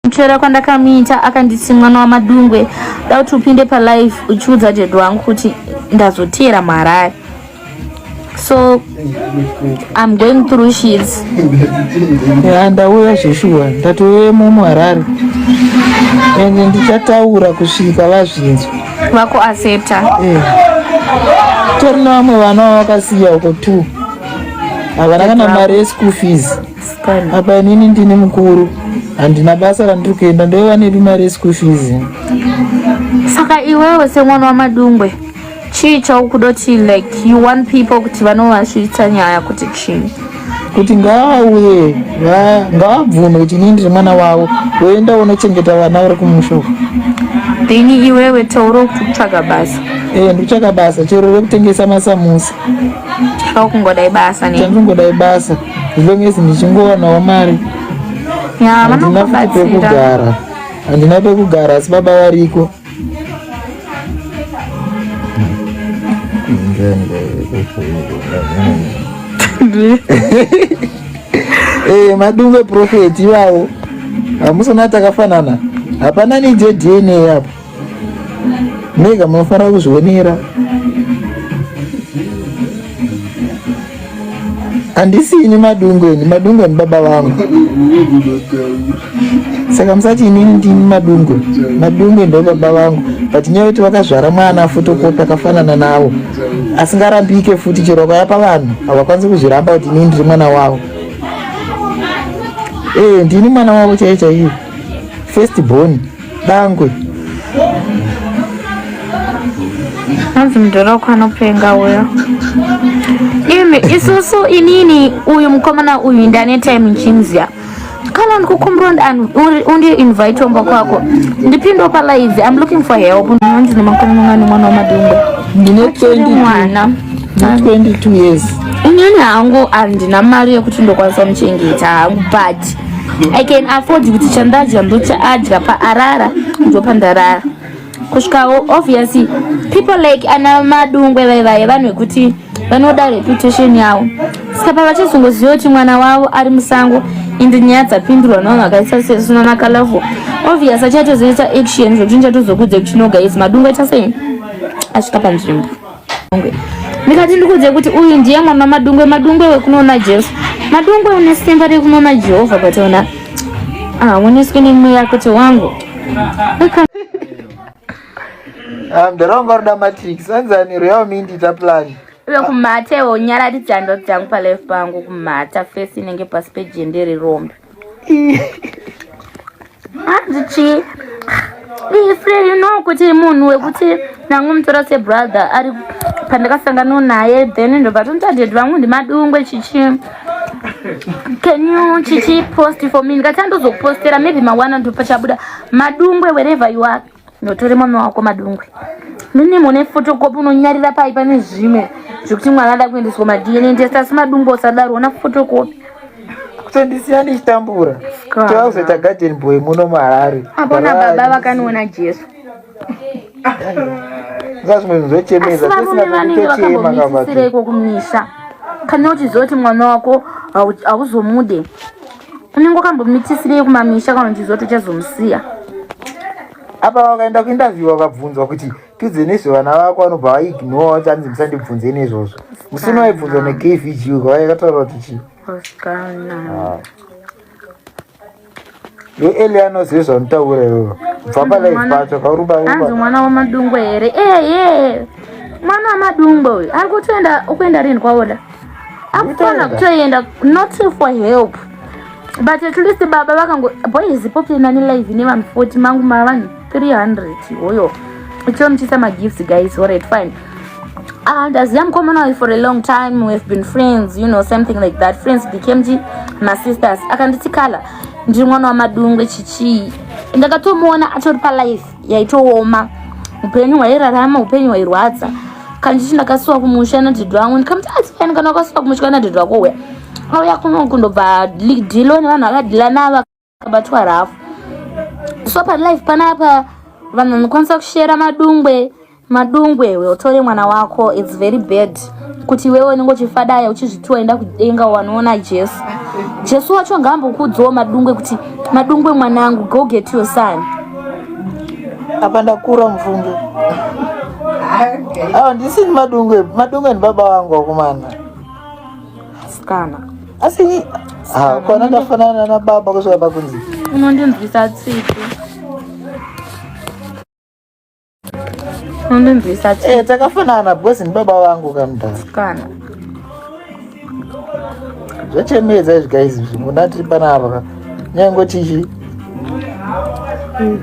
kuchera kwandakamuita akanditi mwana wamadungwe da kuti upinde palife uchiudza dad wangu kuti ndazoteera muharare so i'm going through shits ya ndauya zveshuwa ndatoyemo muharare ende ndichataura kusvika vazvinzwa vako aseta eh. tori nevamwe vana vavakasiya uko two havana kana mari yeschool fees apa inini ndini mukuru handina basa randiri kuenda ndoiva nepi mari yeschool fees saka iwewe semwana wamadungwe chii chaukuda kuti like you want people kuti vanovasvitsa nyaya kuti chii kuti ngavauye ngavabvume kuti inini ndiri mwana wavo voenda unochengeta vana vari kumusha uku dhini iwewe taura kuti kutsvaga basa e eh, ndikutsvaga basa chero rekutengesa masamusa chakungodai basa ne chandingodai basa as long as ndichingowanawo mari handina pekugara handina pekugara asi baba variko eh, madungwe profeti iwawo hamusona takafanana hapana neje dna apo mega munofanira kuzvionera handisi ini madungu ini madungu ini baba vangu saka musati inini ndini madungu madungu ndo baba vangu but nyaya yekuti vakazvara mwana fotokopi akafanana navo asingarambike futi chero akayapa vanhu havakwanisi kuzviramba kuti inini ndiri mwana wavo ee eh, ndini mwana wavo chaiye chaiye first born Bangwe. hanzi mudhoroko anopenga uyo imi isusu inini uyu mukomana uyu ndane time nchimzya kana ndikukumbira undiinvite omba kwako ndipindewo palive im looking for help ndinonzi nemakumi mangani mwana wamadungwe ndine 22 mwana ndine 22 years inini hangu handina mari yekuti ndokwanisa muchengeta hangu but i can afford kuti chandadya ndochaadya paarara ndopandarara kusvikawo obviously people like ana madungwe vai vaye vanhu vekuti vanoda reputation yavo saka pavachazongoziva kuti mwana wavo ari musango ende nyaya dzapindurwa navanhu vakaisa sesuna nakalavo obvious achatozoita action zvekuti nichatozokudze kuti no guys madungwe chasei asvika panzvimbo ndikati ndikuudze kuti uyu ndiye mwana madungwe madungwe wekunoona jesu madungwe une simba rekunoona jehovha but ona aoneswe nemweya kuti wangu ah, mdaronga ruda matrix anzaniro yavo miindita plani uye kumhata iwo nyararidza ndoto dzangu palife pangu kumhata fesi inenge pasi pejendere rombe hanzi chii ifre you know kuti munhu wekuti ndangomutora sebrother ari pandakasangana naye then ndobva tonotaded vamwe ndimadungwe chichi can you chichi post for me ndikati andozokupostera maybe mawana ndopachabuda madungwe wherever you are Ndotore mame wako madungwe. Nini mune photocopy unonyarira pai pane zvimwe zvekuti mwana ada kuendeswa ma DNA test asi madungwe usadaro ona photocopy. Kutondisiya ndichitambura. Tauzoita garden boy muno muHarare. Apona baba vakaniona Jesu. Zvazvimwe zvochemeza tisina kutochema kavatu. Kana uchizoti mwana wako hauzomude. unenge ukambomitisirei kumamisha kana uchizwa kuti uchazomusiya apa vakaenda kuinterview vakabvunzwa kuti tiudze nezvevana vako vanobva vaignore vati hanzi musandibvunze nezvozvo musina waibvunzwa nekvg uka vaikataura kuti chii ah. yo eliano zvezvanotaura iwevo bva palife pacho kaurubaanzi mwana wamadungwe here eye mwana wamadungwe uyu ari kutoenda ukuenda rini kwaoda akutona kutoenda not for help but at least baba vakango boys pope nani live ne vanhu 40 mangu ma vanhu 300 hoyo ichonitisa magifts guys alright fine and as young commonal for a long time we've been friends you know something like that friends became ji masisters akanditi kala ndiri mwana wamadungwe chichii ndakatomuona atori palife yaitooma upenyu hwairarama upenyu hwairwadza kana chichi ndakasuwa kumusha nadhidhi wangu ndikamuti asiani ah, kana wakasuwa kumusha nadhidhi wako uya auya kuno kundobva dhilo nevanhu vakadhila navo akabatwa rafu so palife panapa vanhu vanokwanisa kushera madungwe Madungwe iwe utore mwana wako it's very bad kuti iwewe unenge uchifadaya uchizviti waenda kudenga wanoona Jesu. Jesu wacho ngaambokuudzawo Madungwe kuti Madungwe mwanangu go get your son. Apa ndakura mvunge. Ah, ndisi ni Madungwe. Madungwe ni baba wangu wakomana. Sikana. Asi ni ah, kwana ndafanana na baba kusvika pakunzi. Unondinzwisa tsitsi. Unonzwisa chii? Eh, takafanana because ni baba vangu kamdara. Kana. Zvachemedza izvi guys, munati panapa. Nyango chichi. Mm.